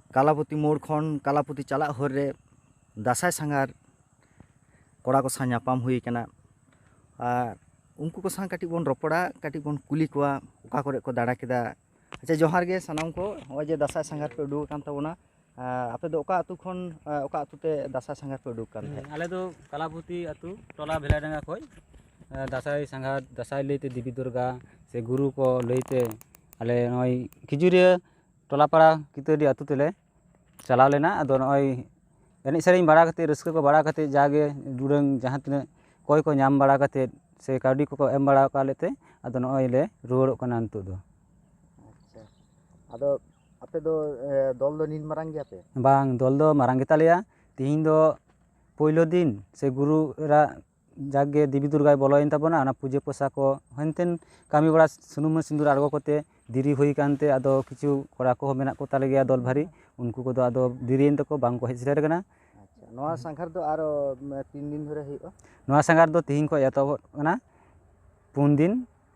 ᱠᱟᱞᱟᱯᱚᱛᱤ ᱢᱳᱲ ᱠᱷᱚᱱ ᱠᱟᱞᱟᱯᱚᱛᱤ ᱪᱟᱞᱟᱜ ᱦᱚᱨ ᱨᱮ ᱫᱟᱸᱥᱟᱭ ᱥᱟᱸᱜᱷᱟᱨ ᱠᱚᱲᱟ ᱠᱚ ᱥᱟᱶ ᱧᱟᱯᱟᱢ ᱦᱩᱭ ᱠᱟᱱᱟ ᱟᱨ ᱩᱱᱠᱩ ᱠᱚ ᱥᱟᱶ ᱠᱟᱹᱴᱤᱡ ᱵᱚᱱ ᱨᱚᱯᱚᱲᱟ ᱠᱟᱹᱴᱤᱡ ᱵᱚᱱ ᱠᱩᱞᱤ ᱠᱚᱣᱟ ᱚᱠᱟ ᱠᱚᱨᱮ ᱠᱚ ᱫᱟᱬᱟ ᱠᱮᱫᱟ ᱟᱪᱪᱷᱟ ᱡᱚᱦᱟᱨ ᱜᱮ ᱥᱟᱱᱟᱢ ᱠᱚ ᱱᱚᱜᱼᱚᱭ ᱡᱮ ᱫᱟᱸᱥᱟᱭ ᱥᱟᱸᱜᱷᱟᱨ ᱯᱮ ᱩᱰᱩᱠ ᱟᱠᱟᱱ ᱛᱟᱵᱚᱱᱟ ᱟᱯᱮ ᱫᱚ ᱚᱠᱟ ᱟᱹᱛᱩ ᱠᱷᱚᱱ ᱚᱠᱟ ᱟᱹᱛᱩ ᱛᱮ ᱫᱟᱸᱥᱟᱭ ᱥᱟᱸᱜᱷᱟᱨ ᱯᱮ ᱩᱰᱩᱠ ᱟᱠᱟᱱ ᱛᱟᱦᱮᱸᱫ ᱟᱞᱮ ᱫᱚ ᱠᱟᱞᱟᱯᱚᱛᱤ ᱟᱹᱛᱩ ᱴᱚᱞᱟ ᱵᱷᱮᱞᱟᱰᱟᱸᱜᱟ ᱠᱷᱚᱱ ᱫᱟᱸᱥᱟᱭ ᱥᱟᱸᱜᱷᱟᱨ ᱫᱟᱸᱥᱟᱭ ᱞᱟᱹᱭᱛᱮ ᱫᱮᱵᱤ ᱫᱩᱨᱜᱟ ᱥᱮ ᱜᱩᱨᱩ ᱠᱚ ᱞᱟᱹᱭᱛᱮ ᱟᱞᱮ ᱱᱚᱜᱼᱚᱭ ᱠᱷᱤᱡᱩᱨᱤᱭᱟᱹ ᱴᱚᱞᱟ ᱯᱟᱲᱟ ᱠᱤᱛᱟᱹᱰᱤ ᱟᱹᱛᱩ ᱛᱮᱞᱮ ᱪᱟᱞᱟᱣ ᱞᱮᱱᱟ ᱟᱫᱚ ᱱᱚᱜᱼᱚᱭ ᱮᱱᱮᱡ ᱥᱮᱨᱮᱧ ᱵᱟᱲᱟ ᱠᱟᱛᱮ ᱨᱟᱹᱥᱠᱟᱹ ᱠᱚ ᱵᱟᱲᱟ ᱠᱟᱛᱮ ᱡᱟᱜᱮ ᱩᱰᱟᱹᱝ ᱡᱟᱦᱟᱸ ᱛᱤᱱᱟᱹᱜ ᱠᱚᱭ ᱠᱚ ᱧᱟᱢ ᱵᱟᱲᱟ ᱠᱟᱛᱮ ᱥᱮ ᱠᱟᱹᱣᱰᱤ ᱠᱚᱠᱚ ᱮᱢ ᱵᱟᱲᱟ ᱠᱟᱜ ᱞᱮᱛᱮ ᱟᱫᱚ ᱱᱚᱜᱼᱚᱭ ᱞᱮ ᱨᱩᱣᱟᱹᱲᱚᱜ ᱠᱟᱱᱟ ᱱᱤᱛᱚᱜ ᱫᱚ ᱟᱪᱪᱷᱟ ᱟᱫᱚ ᱟᱯᱮ ᱫᱚ ᱫᱚᱞ ᱫᱚ ᱱᱤᱱ ᱢᱟᱨᱟᱝ ᱜᱮᱭᱟᱯᱮ ᱵᱟᱝ ᱫᱚᱞ ᱫᱚ ᱢᱟᱨᱟᱝ ᱜᱮᱛᱟᱞᱮᱭᱟ ᱛᱤᱦᱤᱧ ᱫᱚ ᱯᱳᱭᱞᱳ ᱫᱤᱱ ᱥᱮ ᱜᱩᱨᱩ ᱮᱨᱟᱜ ᱡᱟᱜᱮ ᱫᱮᱵᱤ ᱫᱩᱨᱜᱟᱭ ᱵᱚᱞᱚᱭᱮᱱ ᱛᱟᱵᱚᱱᱟ ᱚᱱᱟ ᱯᱩᱡᱟᱹ ᱯᱟᱥᱟ ᱠᱚ ᱦᱮᱱᱛᱮᱱ ᱠᱟᱹᱢᱤ ᱵᱟᱲᱟ ᱥᱩᱱᱩᱢ ᱟᱨ ᱥᱤᱸᱫᱩᱨ ᱟᱬᱜᱚ ᱠᱟᱛᱮ ᱫᱮᱨᱤ ᱦᱩᱭ ᱠᱟᱱᱛᱮ ᱟᱫᱚ ᱠᱤᱪᱷᱩ ᱠᱚᱲᱟ ᱠᱚᱦᱚᱸ ᱢᱮᱱᱟᱜ ᱠᱚ ᱛᱟᱞᱮ ᱜᱮᱭᱟ ᱫᱚᱞ ᱵᱷᱟᱨᱤ ᱩᱱᱠᱩ ᱠᱚᱫᱚ ᱟᱫᱚ ᱫᱮᱨᱤᱭᱮᱱ ᱛᱟᱠᱚ ᱵᱟᱝ ᱠᱚ ᱦᱮᱡ ᱥᱮᱴᱮᱨ ᱠᱟᱱᱟ ᱱᱚᱣᱟ ᱥᱟᱸᱜᱷᱟᱨ ᱫᱚ ᱟᱨᱚ ᱛᱤᱱ ᱫᱤᱱ ᱫᱷᱚᱨᱮ ᱦᱩᱭᱩᱜᱼᱟ ᱱᱚᱣᱟ ᱥᱟᱸᱜᱷᱟᱨ ᱫᱚ ᱛᱤᱦᱤᱧ ᱠᱷᱚᱱ ᱮᱛᱚᱦᱚᱵᱚᱜ ᱠᱟᱱᱟ ᱯᱩᱱ ᱫᱤᱱ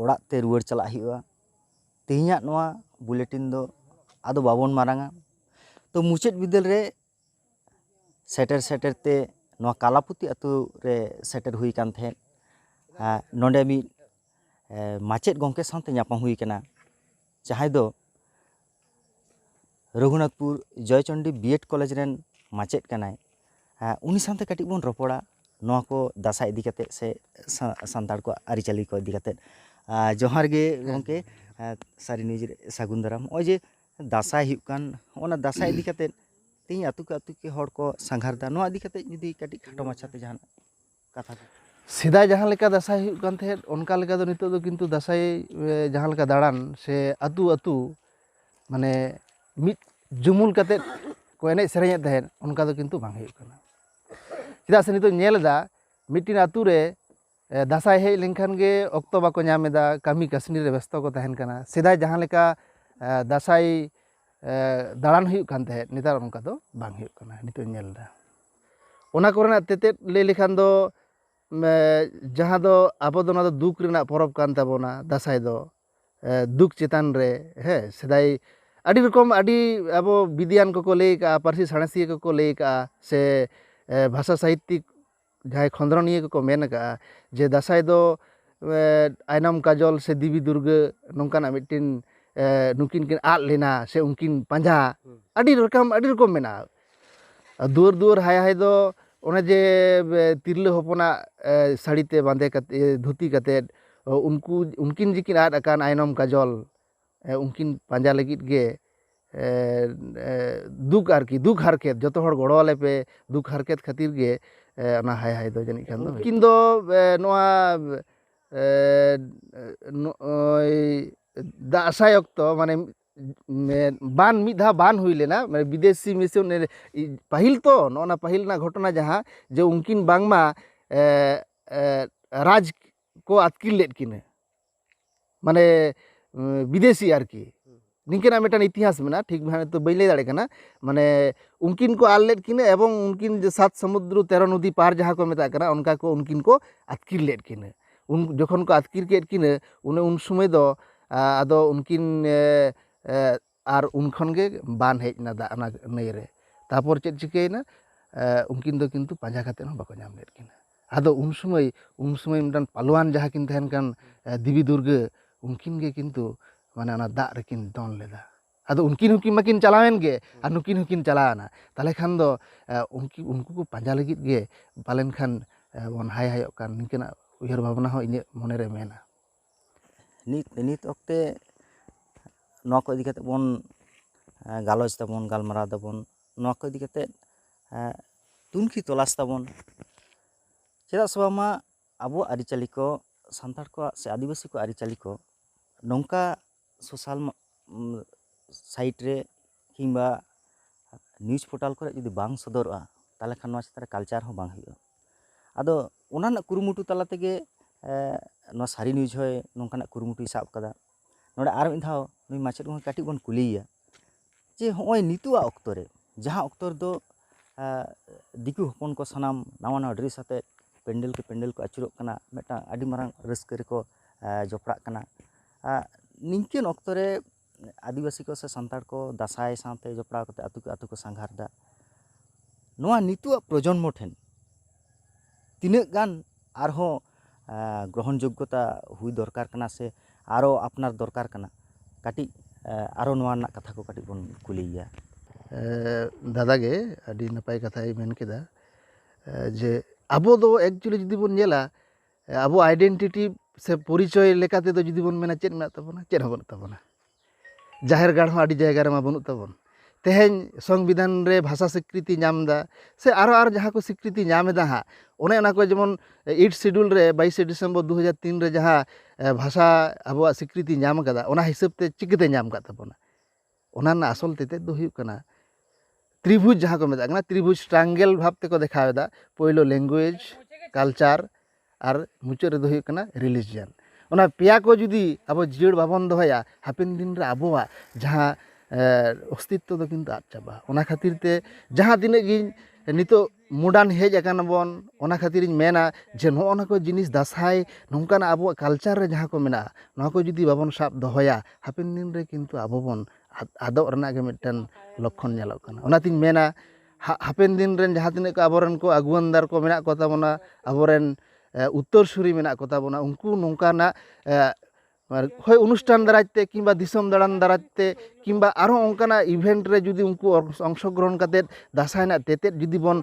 ᱚᱲᱟᱜ ᱛᱮ ᱨᱩᱣᱟᱹᱲ ᱪᱟᱞᱟᱜ ᱦᱩᱭᱩᱜᱼᱟ ᱛᱮᱦᱮᱧᱟᱜ ᱱᱚᱣᱟ ᱵᱩᱞᱮᱴᱤᱱ ᱫᱚ ᱟᱫᱚ ᱵᱟᱵᱚᱱ ᱢᱟᱨᱟᱝᱟ ᱛᱚ ᱢᱩᱪᱟᱹᱫ ᱵᱤᱫᱟᱹᱞ ᱨᱮ ᱥᱮᱴᱮᱨ ᱥᱮᱴᱮᱨ ᱛᱮ ᱱᱚᱣᱟ ᱠᱟᱞᱟᱯᱚᱛᱤ ᱟᱛᱳ ᱨᱮ ᱥᱮᱴᱮᱨ ᱦᱩᱭ ᱠᱟᱱ ᱛᱟᱦᱮᱸᱜ ᱱᱚᱰᱮ ᱢᱤᱫ ᱢᱟᱪᱮᱫ ᱜᱚᱢᱠᱮ ᱥᱟᱶᱛᱮ ᱧᱟᱯᱟᱢ ᱦᱩᱭ ᱠᱟᱱᱟ ᱡᱟᱦᱟᱸᱭ ᱫᱚ ᱨᱚᱜᱷᱩᱱᱟᱛᱷᱯᱩᱨ ᱡᱚᱭᱪᱚᱱᱰᱤ ᱵᱤᱭᱮᱰ ᱠᱚᱞᱮᱡᱽ ᱨᱮᱱ ᱢᱟᱪᱮᱫ ᱠᱟᱱᱟᱭ ᱩᱱᱤ ᱥᱟᱶᱛᱮ ᱠᱟᱹᱴᱤᱡ ᱵᱚᱱ ᱨᱚᱯᱚᱲᱟ ᱱᱚᱣᱟ ᱠᱚ ᱫᱟᱸᱥᱟᱭ ᱤᱫᱤ ᱠᱟᱛᱮ ᱥᱮ ᱥᱟᱱᱛᱟᱲ ᱠᱚᱣᱟᱜ ᱟᱹᱨᱤᱪᱟᱹᱞᱤ ᱠᱚ ᱤᱫᱤ ᱠᱟᱛᱮ ᱡᱚᱦᱟᱨ ᱜᱮ ᱜᱚᱢᱠᱮ ᱥᱟᱹᱨᱤ ᱱᱤᱭᱩᱡᱽ ᱨᱮ ᱥᱟᱹᱜᱩᱱ ᱫᱟᱨᱟᱢ ᱱᱚᱜᱼᱚᱭ ᱡᱮ ᱫᱟᱸᱥᱟᱭ ᱦᱩᱭᱩᱜ ᱠᱟᱱ ᱦᱚᱜᱼᱚᱭ ᱱᱟ ᱫᱟᱸᱥᱟᱭ ᱤᱫᱤ ᱠᱟᱛᱮ ᱛᱮᱦᱤᱧ ᱟᱛᱳ ᱠᱮ ᱟᱛᱳ ᱦᱚᱲ ᱠᱚ ᱥᱟᱸᱜᱷᱟᱨᱫᱟ ᱱᱚᱣᱟ ᱤᱫᱤ ᱠᱟᱛᱮ ᱡᱩᱫᱤ ᱠᱟᱹᱴᱤᱡ ᱠᱷᱟᱴᱚ ᱢᱟᱪᱷᱟᱛᱮ ᱡᱟᱦᱟᱱᱟᱜ ᱠᱟᱛᱷᱟ ᱠᱚ ᱥᱮᱫᱟᱭ ᱡᱟᱦᱟᱸ ᱞᱮᱠᱟ ᱫᱟᱸᱥᱟᱭ ᱦᱩᱭᱩᱜ ᱠᱟᱱ ᱛᱟᱦᱮᱸᱫ ᱚᱱᱠᱟ ᱞᱮᱠᱟ ᱫᱚ ᱱᱤᱛᱚᱜ ᱫᱚ ᱠᱤᱱᱛᱩ ᱫᱟᱸᱥᱟᱭ ᱡᱟᱦᱟᱸ ᱞᱮᱠᱟ ᱫᱟᱬᱟᱱ ᱥᱮ ᱟᱹᱛᱩ ᱟᱹᱛᱩ ᱢᱟᱱᱮ ᱢᱤᱫ ᱡᱩᱢᱩᱞ ᱠᱟᱛᱮ ᱠᱚ ᱮᱱᱮᱡ ᱥᱮᱨᱮᱧᱮᱫ ᱛᱟᱦᱮᱸᱫ ᱚᱱᱠᱟ ᱫᱚ ᱠᱤᱱᱛᱩ ᱵᱟᱝ ᱦᱩᱭᱩᱜ ᱠᱟᱱᱟ ᱪᱮᱫᱟᱜ ᱥᱮ ᱱᱤᱛᱚᱜ ᱧᱮᱞ ᱮᱫᱟ ᱢᱤᱫᱴᱤᱱ ᱟᱹᱛᱩ ᱨᱮ ᱫᱟᱸᱥᱟᱭ ᱦᱮᱡ ᱞᱮᱱᱠᱷᱟᱱ ᱜᱮ ᱚᱠᱛᱚ ᱵᱟᱠᱚ ᱧᱟᱢ ᱮᱫᱟ ᱠᱟᱹᱢᱤ ᱠᱟᱹᱥᱱᱤ ᱨᱮ ᱵᱮᱥᱛᱚ ᱠᱚ ᱛᱟᱦᱮᱱ ᱠᱟᱱᱟ ᱥᱮᱫᱟᱭ ᱡᱟᱦᱟᱸ ᱞᱮᱠᱟ ᱫᱟᱸᱥᱟᱭ ᱫᱟᱬᱟᱱ ᱦᱩᱭᱩᱜ ᱠᱟᱱ ᱛᱟᱦᱮᱸᱫ ᱱᱮᱛᱟᱨ ᱚᱱᱠᱟ ᱫᱚ ᱵᱟᱝ ᱦᱩᱭᱩᱜ ᱠᱟᱱᱟ ᱱᱤᱛᱚᱜ ᱤᱧ ᱧᱮᱞ ᱮᱫᱟ ᱚᱱᱟ ᱠᱚᱨᱮᱱᱟᱜ ᱛᱮᱛᱮᱫ ᱞᱟᱹᱭ ᱞᱮᱠᱷᱟᱱ ᱫᱚ ᱡᱟᱦᱟᱸ ᱫᱚ ᱟᱵᱚ ᱫᱚ ᱱᱚᱣᱟ ᱫᱚ ᱫᱩᱠ ᱨᱮᱱᱟᱜ ᱯᱚᱨᱚᱵᱽ ᱠᱟᱱ ᱛᱟᱵᱚᱱᱟ ᱫᱟᱸᱥᱟᱭ ᱫᱚ ᱫᱩᱠ ᱪᱮᱛᱟᱱ ᱨᱮ ᱦᱮᱸ ᱥᱮᱫᱟᱭ ᱟᱹᱰᱤ ᱨᱚᱠᱚᱢ ᱟᱹᱰᱤ ᱟᱵᱚ ᱵᱤᱫᱤᱭᱟᱱ ᱠᱚᱠᱚ ᱞᱟᱹᱭ ᱠᱟᱜᱼᱟ ᱯᱟᱹᱨᱥᱤ ᱥᱟᱬᱮᱥᱤᱭᱟᱹ ᱠᱚᱠᱚ ᱞᱟᱹᱭ ᱠᱟᱜᱼᱟ ᱥᱮ ᱵᱷᱟᱥᱟ ᱥᱟᱦᱤᱛᱛᱤᱠ ᱡᱟᱦᱟᱸᱭ ᱠᱷᱚᱸᱫᱽᱨᱚᱱᱤᱭᱟᱹ ᱠᱚᱠᱚ ᱢᱮᱱ ᱠᱟᱜᱼᱟ ᱡᱮ ᱫᱟᱸᱥᱟᱭ ᱫᱚ ᱟᱭᱱᱚᱢ ᱠᱟᱡᱚᱞ ᱥᱮ ᱫᱮᱵᱤ ᱫᱩᱨᱜᱟᱹ ᱱᱚᱝᱠᱟᱱᱟᱜ ᱢᱤᱫᱴᱤᱱ ᱱᱩᱠᱤᱱ ᱠᱤᱱ ᱟᱫ ᱞᱮᱱᱟ ᱥᱮ ᱩᱱᱠᱤᱱ ᱯᱟᱸᱡᱟ ᱟᱹᱰᱤ ᱨᱚᱠᱚᱢ ᱟᱹᱰᱤ ᱨᱚᱠᱚᱢ ᱢᱮᱱᱟᱜᱼᱟ ᱫᱩᱣᱟᱹᱨ ᱫᱩᱣᱟᱹᱨ ᱦᱟᱭ ᱦᱟᱭ ᱫᱚ ᱚᱱᱮ ᱡᱮ ᱛᱤᱨᱞᱟᱹ ᱦᱚᱯᱚᱱᱟᱜ ᱥᱟᱹᱲᱤ ᱛᱮ ᱵᱟᱸᱫᱮ ᱠᱟᱛᱮ ᱫᱷᱩᱛᱤ ᱠᱟᱛᱮ ᱩᱱᱠᱩ ᱩᱱᱠᱤᱱ ᱡᱮᱠᱤᱱ ᱟᱫ ᱟᱠᱟᱱ ᱟᱭᱱᱚᱢ ᱠᱟᱡᱚᱞ ᱩᱱᱠᱤᱱ ᱯᱟᱸᱡᱟ ᱞᱟᱹᱜᱤᱫ ᱜᱮ ᱫᱩᱠ ᱟᱨᱠᱤ ᱫᱩᱠ ᱦᱟᱨᱠᱮᱛ ᱡᱚᱛᱚ ᱦᱚᱲ ᱜᱚᱲᱚ ᱟᱞᱮ ᱯᱮ ᱫᱩᱠ ᱦᱟᱨᱠᱮᱛ ᱠᱷᱟᱹᱛᱤᱨ ᱜᱮ ᱚᱱᱟ ᱦᱟᱭ ᱦᱟᱭ ᱫᱚ ᱡᱟᱹᱱᱤᱡ ᱠᱷᱟᱱ ᱫᱚ ᱩᱱᱠᱤᱱ ᱫᱚ ᱱᱚᱣᱟ ᱱᱚᱜᱼᱚᱭ ᱫᱟᱸᱥᱟᱭ ᱚᱠᱛᱚ ᱢᱟᱱᱮ ᱵᱟᱱ ᱢᱤᱫ ᱫᱷᱟᱣ ᱵᱟᱱ ᱦᱩᱭ ᱞᱮᱱᱟ ᱢᱟᱱᱮ ᱵᱤᱫᱮᱥᱤ ᱢᱤᱥᱚᱱ ᱯᱟᱹᱦᱤᱞ ᱛᱚ ᱱᱚᱜᱼᱚ ᱱᱟ ᱯᱟᱹᱦᱤᱞ ᱨᱮᱱᱟᱜ ᱜᱷᱚᱴᱚᱱᱟ ᱡᱟᱦᱟᱸ ᱡᱮ ᱩᱱᱠᱤᱱ ᱵᱟᱝᱢᱟ ᱨᱟᱡᱽ ᱠᱚ ᱟᱛᱠᱤᱨ ᱞᱮᱫ ᱠᱤᱱᱟᱹ ᱢᱟᱱᱮ ᱵᱤᱫᱮᱥᱤ ᱟᱨᱠᱤ ᱱᱤᱝᱠᱟᱹᱱᱟᱜ ᱢᱤᱫᱴᱟᱝ ᱤᱛᱤᱦᱟᱥ ᱢᱮᱱᱟᱜᱼᱟ ᱴᱷᱤᱠ ᱵᱷᱟᱵᱮ ᱛᱚ ᱵᱟᱹᱧ ᱞᱟᱹᱭ ᱫᱟᱲᱮᱭᱟᱜ ᱠᱟᱱᱟ ᱢᱟᱱᱮ ᱩᱱᱠᱤᱱ ᱠᱚ ᱟᱞ ᱞᱮᱫ ᱠᱤᱱᱟᱹ ᱮᱵᱚᱝ ᱩᱱᱠᱤᱱ ᱥᱟᱛ ᱥᱚᱢᱩᱫᱨᱚ ᱛᱮᱨᱚ ᱱᱚᱫᱤ ᱯᱟᱨ ᱡᱟᱦᱟᱸ ᱠᱚ ᱢᱮᱛᱟᱜ ᱠᱟᱱᱟ ᱚᱱᱠᱟ ᱠᱚ ᱩᱱᱠᱤᱱ ᱠᱚ ᱟᱛᱠᱤᱨ ᱞᱮᱫ ᱠᱤᱱᱟᱹ ᱩᱱ ᱡᱚᱠᱷᱚᱱ ᱠᱚ ᱟᱛᱠᱤᱨ ᱠᱮᱫ ᱠᱤᱱᱟᱹ ᱚᱱᱮ ᱩᱱ ᱥᱚᱢᱚᱭ ᱫᱚ ᱟᱫᱚ ᱩᱱᱠᱤᱱ ᱟᱨ ᱩᱱ ᱠᱷᱚᱱ ᱜᱮ ᱵᱟᱱ ᱦᱮᱡ ᱮᱱᱟ ᱫᱟᱜ ᱚᱱᱟ ᱱᱟᱹᱭ ᱨᱮ ᱛᱟᱯᱚᱨ ᱪᱮᱫ ᱪᱤᱠᱟᱹᱭᱮᱱᱟ ᱩᱱᱠᱤᱱ ᱫᱚ ᱠᱤᱱᱛᱩ ᱯᱟᱸᱡᱟ ᱠᱟᱛᱮ ᱦᱚᱸ ᱵᱟᱠᱚ ᱧᱟᱢ ᱞᱮᱫ ᱠᱤᱱᱟᱹ ᱟᱫᱚ ᱩᱱ ᱥᱚᱢᱚᱭ ᱩᱱ ᱥᱚᱢᱚᱭ ᱢᱤᱫᱴᱟᱝ ᱯᱟᱞᱣᱟᱱ ᱡᱟᱦᱟᱸ ᱠᱤᱱ ᱛᱟᱦᱮᱱ ᱠᱟᱱ ᱫᱮᱵᱤ ᱫᱩᱨᱜᱟᱹ ᱩᱱᱠᱤᱱ ᱜᱮ ᱠᱤᱱᱛᱩ ᱢᱟᱱᱮ ᱚᱱᱟ ᱫᱟᱜ ᱨᱮᱠᱤᱱ ᱫᱚᱱ ᱞᱮᱫᱟ ᱟᱫᱚ ᱩᱱᱠᱤᱱ ᱦᱚᱸᱠᱤᱱ ᱢᱟᱠᱤᱱ ᱪᱟᱞᱟᱣᱮᱱ ᱜᱮ ᱟᱨ ᱱᱩᱠᱤᱱ ᱦᱚᱸᱠᱤᱱ ᱪᱟᱞᱟᱣᱮᱱᱟ ᱛᱟᱦᱚᱞᱮ ᱠᱷᱟᱱ ᱫᱚ ᱩᱱᱠᱤᱱ ᱩᱱᱠᱩ ᱠᱚ ᱯᱟᱸᱡᱟ ᱞᱟᱹᱜᱤᱫ ᱜᱮ ᱯᱟᱞᱮᱱ ᱠᱷᱟᱱ ᱵᱚᱱ ᱦᱟᱭ ᱦᱟᱭᱚᱜ ᱠᱟᱱ ᱱᱤᱝᱠᱟᱹᱱᱟᱜ ᱩᱭᱦᱟᱹᱨ ᱵᱷᱟᱵᱽᱱᱟ ᱦᱚᱸ ᱤᱧᱟᱹᱜ ᱢᱚᱱᱮ ᱨᱮ ᱢᱮᱱᱟᱜᱼᱟ ᱱᱤᱛ ᱱᱤᱛ ᱚᱠᱛᱮ ᱱᱚᱣᱟ ᱠᱚ ᱤᱫᱤ ᱠᱟᱛᱮ ᱵᱚᱱ ᱜᱟᱞᱚᱪ ᱫᱟᱵᱚᱱ ᱜᱟᱞᱢᱟᱨᱟᱣ ᱫᱟᱵᱚᱱ ᱱᱚᱣᱟ ᱠᱚ ᱤᱫᱤ ᱠᱟᱛᱮ ᱛᱩᱱᱠᱷᱤ ᱛᱚᱞᱟᱥ ᱛᱟᱵᱚᱱ ᱪᱮᱫᱟᱜ ᱥᱮ ᱵᱟᱝᱢᱟ ᱟᱵᱚᱣᱟᱜ ᱟᱹᱨᱤᱪᱟᱹᱞᱤ ᱠᱚ ᱥᱟᱱᱛᱟᱲ ᱠᱚᱣᱟᱜ ᱥᱮ ᱟᱹᱫᱤᱵᱟᱹᱥᱤ ᱠᱚᱣᱟᱜ ᱟᱹᱨᱤᱪᱟᱹᱞᱤ ᱠᱚ ᱱᱚᱝᱠᱟ ᱥᱳᱥᱟᱞ ᱥᱟᱭᱤᱴ ᱨᱮ ᱠᱤᱢᱵᱟ ᱱᱤᱭᱩᱡᱽ ᱯᱳᱨᱴᱟᱞ ᱠᱚᱨᱮ ᱡᱩᱫᱤ ᱵᱟᱝ ᱥᱚᱫᱚᱨᱚᱜᱼᱟ ᱛᱟᱦᱚᱞᱮ ᱠᱷᱟᱱ ᱱᱚᱣᱟ ᱪᱮᱛᱟᱱ ᱨᱮ ᱠᱟᱞᱪᱟᱨ ᱦᱚᱸ ᱵᱟᱝ ᱦᱩᱭᱩᱜᱼᱟ ᱟᱫᱚ ᱚᱱᱟ ᱨᱮᱱᱟᱜ ᱠᱩᱨᱩᱢᱩᱴᱩ ᱛᱟᱞᱟ ᱛᱮᱜᱮ ᱱᱚᱣᱟ ᱥᱟᱹᱨᱤ ᱱᱤᱭᱩᱡᱽ ᱦᱚᱸᱭ ᱱᱚᱝᱠᱟᱱᱟᱜ ᱠᱩᱨᱩᱢᱩᱴᱩᱭ ᱥᱟᱵ ᱠᱟᱫᱟ ᱱᱚᱰᱮ ᱟᱨ ᱢᱤᱫ ᱫᱷᱟᱣ ᱱᱩᱭ ᱢᱟᱪᱮᱫ ᱜᱚᱢᱠᱮ ᱠᱟᱹᱴᱤᱡ ᱵᱚᱱ ᱠᱩᱞᱤᱭᱮᱭᱟ ᱡᱮ ᱦᱚᱸᱜᱼᱚᱭ ᱱᱤᱛᱳᱜ ᱟᱜ ᱚᱠᱛᱚ ᱨᱮ ᱡᱟᱦᱟᱸ ᱚᱠᱛᱚ ᱨᱮᱫᱚ ᱫᱤᱠᱩ ᱦᱚᱯᱚᱱ ᱠᱚ ᱥᱟᱱᱟᱢ ᱱᱟᱣᱟ ᱱᱟᱣᱟ ᱰᱨᱮᱥ ᱟᱛᱮᱫ ᱯᱮᱱᱰᱮᱞ ᱠᱮ ᱯᱮᱱᱰᱮᱞ ᱠᱚ ᱟᱹᱪᱩᱨᱚᱜ ᱠᱟᱱᱟ ᱢᱤᱫᱴᱟᱝ ᱟᱹᱰᱤ ᱢᱟᱨᱟᱝ ᱨᱟᱹᱥᱠᱟᱹ ᱨᱮᱠᱚ ᱡᱚᱯᱲᱟᱜ ᱠᱟᱱᱟ ᱱᱤᱝᱠᱟᱹᱱ ᱚᱠᱛᱚ ᱨᱮ ᱟᱹᱫᱤᱵᱟᱹᱥᱤ ᱠᱚ ᱥᱮ ᱥᱟᱱᱛᱟᱲ ᱠᱚ ᱫᱟᱸᱥᱟᱭ ᱥᱟᱶᱛᱮ ᱡᱚᱯᱲᱟᱣ ᱠᱟᱛᱮᱫ ᱟᱹᱛᱩ ᱠᱮ ᱟᱹᱛᱩ ᱠᱚ ᱥᱟᱸᱜᱷᱟᱨᱫᱟ ᱱᱚᱣᱟ ᱱᱤᱛᱳᱜ ᱟᱜ ᱯᱨᱚᱡᱚᱱᱢᱚ ᱴᱷᱮᱱ ᱛᱤᱱᱟᱹᱜ ᱜᱟᱱ ᱟᱨᱦᱚᱸ ᱜᱨᱚᱦᱚᱱ ᱡᱳᱜᱽᱜᱚᱛᱟ ᱦᱩᱭ ᱫᱚᱨᱠᱟᱨ ᱠᱟᱱᱟ ᱥᱮ ᱟᱨᱚ ᱟᱯᱱᱟᱨ ᱫᱚᱨᱠᱟᱨ ᱠᱟᱱᱟ ᱠᱟᱹᱴᱤᱡ ᱟᱨᱚ ᱱᱚᱣᱟ ᱨᱮᱱᱟᱜ ᱠᱟᱛᱷᱟ ᱠᱚ ᱠᱟᱹᱴᱤᱡ ᱵᱚᱱ ᱠᱩᱞᱤᱭᱮᱭᱟ ᱫᱟᱫᱟ ᱜᱮ ᱟᱹᱰᱤ ᱱᱟᱯᱟᱭ ᱠᱟᱛᱷᱟᱭ ᱢᱮᱱ ᱠᱮᱫᱟ ᱡᱮ ᱟᱵᱚ ᱫᱚ ᱮᱠᱪᱩᱞᱞᱤ ᱡᱩᱫᱤ ᱵᱚᱱ ᱧᱮᱞᱟ ᱟᱵᱚᱣᱟᱜ ᱟᱭᱰᱮᱱᱴᱤᱴᱤ ᱥᱮ ᱯᱚᱨᱤᱪᱚᱭ ᱞᱮᱠᱟ ᱛᱮᱫᱚ ᱡᱩᱫᱤ ᱵᱚᱱ ᱢᱮᱱᱟ ᱪᱮᱫ ᱢᱮᱱᱟᱜ ᱛᱟᱵᱚᱱᱟ ᱪᱮᱫ ᱦᱚᱸ ᱵᱟᱹᱱᱩᱜ ᱛᱟᱵᱚᱱᱟ ᱡᱟᱦᱮᱨ ᱜᱟᱲ ᱦᱚᱸ ᱟᱹᱰᱤ ᱡᱟᱭᱜᱟ ᱨᱮᱢᱟ ᱵᱟᱹᱱᱩᱜ ᱛᱟᱵᱚᱱ ᱛᱮᱦᱮᱧ ᱥᱚᱝᱵᱤᱫᱷᱟᱱ ᱨᱮ ᱵᱷᱟᱥᱟ ᱥᱤᱠᱨᱤᱛᱤ ᱧᱟᱢ ᱮᱫᱟ ᱥᱮ ᱟᱨᱚ ᱟᱨᱚ ᱡᱟᱦᱟᱸ ᱠᱚ ᱥᱤᱠᱨᱤᱛᱤ ᱧᱟᱢ ᱮᱫᱟ ᱦᱟᱸᱜ ᱚᱱᱮ ᱚᱱᱟ ᱠᱚ ᱡᱮᱢᱚᱱ ᱮᱭᱤᱴ ᱥᱤᱰᱩᱞ ᱨᱮ ᱵᱟᱭᱤᱥᱮ ᱰᱤᱥᱮᱢᱵᱚᱨ ᱫᱩ ᱦᱟᱡᱟᱨ ᱛᱤᱱ ᱨᱮ ᱡᱟᱦᱟᱸ ᱵᱷᱟᱥᱟ ᱟᱵᱚᱣᱟᱜ ᱥᱤᱠᱨᱤᱛᱤ ᱧᱟᱢ ᱠᱟᱫᱟ ᱚᱱᱟ ᱦᱤᱥᱟᱹᱵ ᱛᱮ ᱪᱤᱠᱟᱹᱛᱮ ᱧᱟᱢ ᱠᱟᱜ ᱛᱟᱵᱚᱱᱟ ᱚᱱᱟ ᱨᱮᱱᱟᱜ ᱟᱥᱚᱞ ᱛᱮᱛᱮᱫ ᱫᱚ ᱦᱩᱭᱩᱜ ᱠᱟᱱᱟ ᱛᱨᱤᱵᱷᱩᱡᱽ ᱡᱟᱦᱟᱸ ᱠᱚ ᱢᱮᱛᱟᱜ ᱠᱟᱱᱟ ᱛᱨᱤᱵᱷᱩᱡᱽ ᱴᱨᱟᱝᱜᱮᱞ ᱵᱷᱟᱵᱽ ᱛᱮᱠᱚ ᱫᱮᱠᱷᱟᱣ ᱮᱫᱟ ᱯᱳᱭᱞᱳ ᱞᱮᱝᱜᱩᱭᱮᱡᱽ ᱠᱟᱞᱪᱟᱨ ᱟᱨ ᱢᱩᱪᱟᱹᱫ ᱨᱮᱫᱚ ᱦᱩᱭᱩᱜ ᱠᱟᱱᱟ ᱨᱤᱞᱤᱡᱤᱭᱟᱱ ᱚᱱᱟ ᱯᱮᱭᱟ ᱠᱚ ᱡᱩᱫᱤ ᱟᱵᱚ ᱡᱤᱭᱟᱹᱲ ᱵᱟᱵᱚᱱ ᱫᱚᱦᱚᱭᱟ ᱦᱟᱯᱮᱱ ᱫᱤᱱ ᱨᱮ ᱟᱵᱚᱣᱟᱜ ᱡᱟᱦᱟᱸ ᱚᱥᱛᱤᱛᱛᱚ ᱫᱚ ᱠᱤᱱᱛᱩ ᱟᱫ ᱪᱟᱵᱟᱜᱼᱟ ᱚᱱᱟ ᱠᱷᱟᱹᱛᱤᱨ ᱛᱮ ᱡᱟᱦᱟᱸ ᱛᱤᱱᱟᱹᱜ ᱜᱮ ᱱᱤᱛᱚᱜ ᱢᱚᱰᱟᱨᱱ ᱦᱮᱡ ᱟᱠᱟᱱᱟ ᱵᱚᱱ ᱚᱱᱟ ᱠᱷᱟᱹᱛᱤᱨᱤᱧ ᱢᱮᱱᱟ ᱡᱮ ᱱᱚᱜᱼᱚ ᱱᱚᱣᱟ ᱠᱚ ᱡᱤᱱᱤᱥ ᱫᱟᱸᱥᱟᱭ ᱱᱚᱝᱠᱟᱱᱟᱜ ᱟᱵᱚᱣᱟᱜ ᱠᱟᱞᱪᱟᱨ ᱨᱮ ᱡᱟᱦᱟᱸ ᱠᱚ ᱢᱮᱱᱟᱜᱼᱟ ᱱᱚᱣᱟ ᱠᱚ ᱡᱩᱫᱤ ᱵᱟᱵᱚᱱ ᱥᱟᱵ ᱫᱚᱦᱚᱭᱟ ᱦᱟᱯᱮᱱ ᱫᱤᱱ ᱨᱮ ᱠᱤᱱᱛᱩ ᱟᱵᱚ ᱵᱚᱱ ᱟᱫᱚᱜ ᱨᱮᱱᱟᱜ ᱜᱮ ᱢᱤᱫᱴᱮᱱ ᱞᱚᱠᱠᱷᱚᱱ ᱧᱮᱞᱚᱜ ᱠᱟᱱᱟ ᱚᱱᱟᱛᱤᱧ ᱢᱮᱱᱟ ᱦᱟᱯᱮᱱ ᱫᱤᱱ ᱨᱮᱱ ᱡᱟᱦᱟᱸ ᱛᱤᱱᱟᱹᱜ ᱠᱚ ᱟᱵᱚ ᱨᱮᱱ ᱠᱚ ᱟᱹᱜᱩᱣᱟᱹᱱ ᱫᱟᱨ ᱠᱚ ᱢᱮᱱᱟᱜ ᱠᱚᱛᱟ ᱵᱚᱱᱟ ᱟᱵᱚ ᱨᱮᱱ ᱩᱛᱛᱚᱨ ᱥᱩᱨᱤ ᱢᱮᱱᱟᱜ ᱠᱚᱛᱟ ᱵᱚᱱᱟ ᱩᱱᱠᱩ ᱱᱚᱝᱠᱟᱱᱟᱜ ᱟᱨ ᱦᱳᱭ ᱚᱱᱩᱥᱴᱷᱟᱱ ᱫᱟᱨᱟᱭ ᱛᱮ ᱠᱤᱢᱵᱟ ᱫᱤᱥᱚᱢ ᱫᱟᱬᱟᱱ ᱫᱟᱨᱟᱭ ᱛᱮ ᱠᱤᱢᱵᱟ ᱟᱨᱚ ᱚᱱᱠᱟᱱᱟᱜ ᱤᱵᱷᱮᱱᱴ ᱨᱮ ᱡᱩᱫᱤ ᱩᱱᱠᱩ ᱚᱝᱥᱚ ᱜᱨᱚᱦᱚᱱ ᱠᱟᱛᱮ ᱫᱟᱸᱥᱟᱭ ᱨᱮᱱᱟᱜ ᱛᱮᱛᱮᱫ ᱡᱩᱫᱤ ᱵᱚᱱ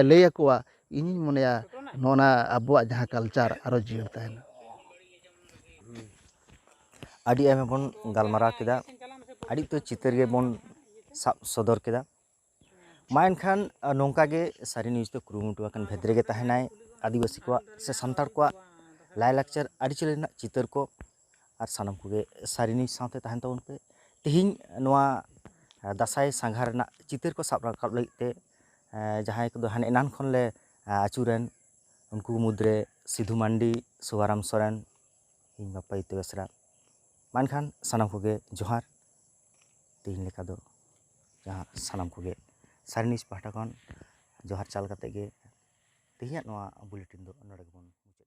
ᱞᱟᱹᱭ ᱟᱠᱚᱣᱟ ᱤᱧᱤᱧ ᱢᱚᱱᱮᱭᱟ ᱱᱚᱜᱼᱚ ᱱᱟ ᱟᱵᱚᱣᱟᱜ ᱡᱟᱦᱟᱸ ᱠᱟᱞᱪᱟᱨ ᱟᱨᱚ ᱡᱤᱭᱟᱹᱲ ᱛᱟᱦᱮᱱᱟ ᱟᱹᱰᱤ ᱟᱭᱢᱟ ᱵᱚᱱ ᱜᱟᱞᱢᱟᱨᱟᱣ ᱠᱮᱫᱟ ᱟᱹᱰᱤ ᱩᱛᱟᱹᱨ ᱪᱤᱛᱟᱹᱨ ᱜᱮᱵᱚᱱ ᱥᱟᱵ ᱥᱚᱫᱚᱨ ᱠᱮᱫᱟ ᱢᱟ ᱮᱱᱠᱷᱟᱱ ᱱᱚᱝᱠᱟ ᱜᱮ ᱥᱟᱹᱨᱤ ᱱᱤᱭᱩᱡᱽ ᱫᱚ ᱠᱩᱨᱩᱢᱩᱴᱩ ᱟᱠᱟᱱ ᱵᱷᱮᱫᱽ ᱨᱮᱜᱮ ᱛᱟᱦᱮᱱᱟᱭ ᱟᱹᱫᱤᱵᱟᱹᱥᱤ ᱠᱚᱣᱟᱜ ᱥᱮ ᱥᱟᱱᱛᱟᱲ ᱠᱚᱣᱟᱜ ᱞᱟᱭᱼᱞᱟᱠᱪᱟᱨ ᱟᱹᱨᱤᱪᱟᱹᱞᱤ ᱨᱮᱱᱟᱜ ᱪᱤᱛᱟᱹᱨ ᱠᱚ ᱟᱨ ᱥᱟᱱᱟᱢ ᱠᱚᱜᱮ ᱥᱟᱹᱨᱤ ᱱᱤᱭᱩᱡᱽ ᱥᱟᱶᱛᱮ ᱛᱟᱦᱮᱱ ᱛᱟᱵᱚᱱ ᱯᱮ ᱛᱮᱦᱮᱧ ᱱᱚᱣᱟ ᱫᱟᱸᱥᱟᱭ ᱥᱟᱸᱜᱷᱟᱨ ᱨᱮᱱᱟᱜ ᱪᱤᱛᱟᱹᱨ ᱠᱚ ᱥᱟᱵ ᱨᱟᱠᱟᱵ ᱞᱟᱹᱜᱤᱫ ᱛᱮ ᱡᱟᱦᱟᱸᱭ ᱠᱚᱫᱚ ᱦᱟᱱᱮ ᱮᱱᱟᱱ ᱠᱷᱚᱱᱞᱮ ᱟᱹᱪᱩᱨᱮᱱ ᱩᱱᱠᱩ ᱢᱩᱫᱽᱨᱮ ᱥᱤᱫᱷᱩ ᱢᱟᱱᱰᱤ ᱥᱩᱵᱷᱟᱨᱟᱢ ᱥᱚᱨᱮᱱ ᱤᱧ ᱵᱟᱯᱟ ᱡᱤᱛᱩ ᱵᱮᱥᱨᱟ ᱢᱟ ᱮᱱᱠᱷᱟᱱ ᱥᱟᱱᱟᱢ ᱠᱚᱜᱮ ᱡᱚᱦᱟᱨ ᱛᱮᱦᱮᱧ ᱞᱮᱠᱟ ᱫᱚ ᱡᱟᱦᱟᱸ ᱥᱟᱱᱟᱢ ᱠᱚᱜᱮ ᱥᱟᱭᱮᱱ ᱱᱤᱭᱩᱥ ᱯᱟᱦᱴᱟ ᱠᱷᱚᱱ ᱡᱚᱦᱟᱨ ᱪᱟᱞ ᱠᱟᱛᱮᱫ ᱜᱮ ᱛᱮᱦᱮᱧᱟᱜ ᱱᱚᱣᱟ ᱵᱩᱞᱮᱴᱤᱱ ᱫᱚ ᱱᱚᱰᱮ ᱜᱮᱵᱚᱱ ᱢᱩᱪᱟᱹᱫ ᱮᱫᱟ